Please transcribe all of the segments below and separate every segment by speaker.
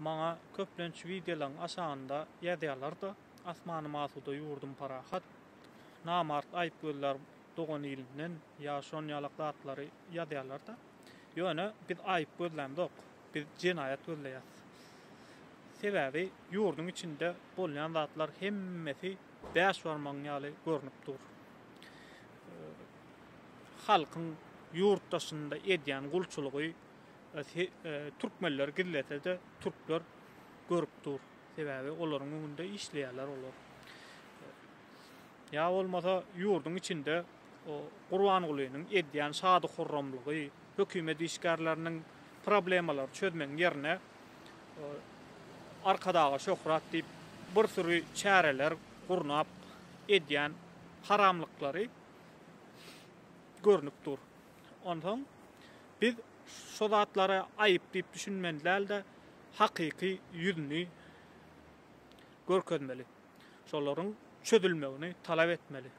Speaker 1: Maňa köplenç wideolaň aşagynda ýazýarlar-da, Asmanym asuda, ýurdum parahat, namart aýyp gözlär dogan ilinden ýa şon ýalak zatlary ýazýarlar-da. Ýöne biz aýyp gözlämzok, biz jenaýat gözleýäs. Sebäbi ýurduň içinde bolýan zatlar hemmesi bäş barmagyň ýaly görnüp dur. Halkyň ýurt daşynda edýän gulçulygy. Türkmenler gizlese-de türkler görüp dur. Sebäbi olaryň öňünde işleýärler olar. Ýa bolmasa ýurduň içinde o Gurbangulynyň edýän şady-hurramlygy, hökümet işgärleriniň problemalary çözmegiň ýerine Arkadaga şöhrat diýip bir süri çäreler gurnap edýän haramlyklary görnüp dur. Onsoň Biz şo zatlary aýyp diýip düşünmeli däl-de, hakyky ýüzüni görkezmeli. Şolaryň çözülmegini talap etmeli.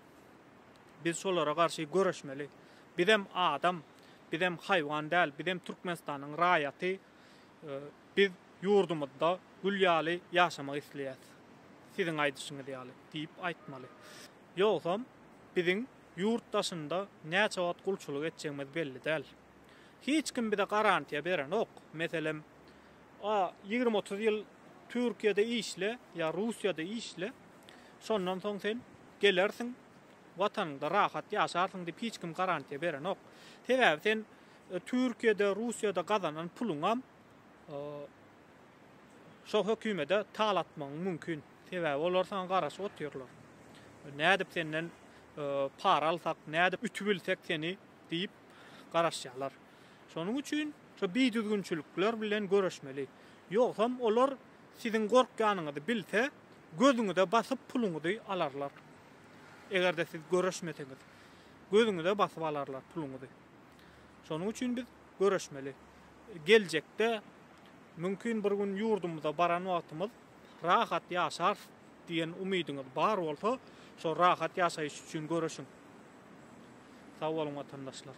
Speaker 1: Biz şolara garşy göreşmeli. Bizem adam, bizem haýwan däl, bizem Türkmenistanyň raýaty. Biz ýurdumyzda gül ýaly ýaşamak isleýäs. Siziň aýdyşyňyz ýaly diýip aýtmaly. Ýogsam biziň. Ýurt daşynda näçe wagt gulçulyk etjegimiz belli däl. Hiç kim bize garantiýa berenok. Meselem, A, ýigrimi-otuz ýyl Türkiýede işle ýa Russiýada işle, şondan soň sen gelersiň, Watanyňda rahat ýaşarsyň diýip hiç kim garantiýa berenok. Sebäbi sen Türkiýede, Russiýada gazanan puluňam şo hökümede talatmagyň mümkin. Sebäbi olar saňa garaşyp otyrlar. Nädip senden para alsak, nädip ütüp bilsek seni diýip garaşýarlar. Şonuň üçin şu bidüzgünçilikler bilen göreşmeli. Ýogsam olar siziň gorkýanyňyzy bilse, gözüňize basyp puluňyzy alarlar. Eger-de siz göreşmeseňiz, gözüňize basyp alarlar puluňyzy. Şonuň üçin biz göreşmeli. Geljekde mümkin bir gün ýurdumyza baran wagtymyz rahat ýaşarys diýen umydyňyz bar bolsa, şol rahat ýaşaýyş üçin göreşiň. Sag boluň watandaşlar.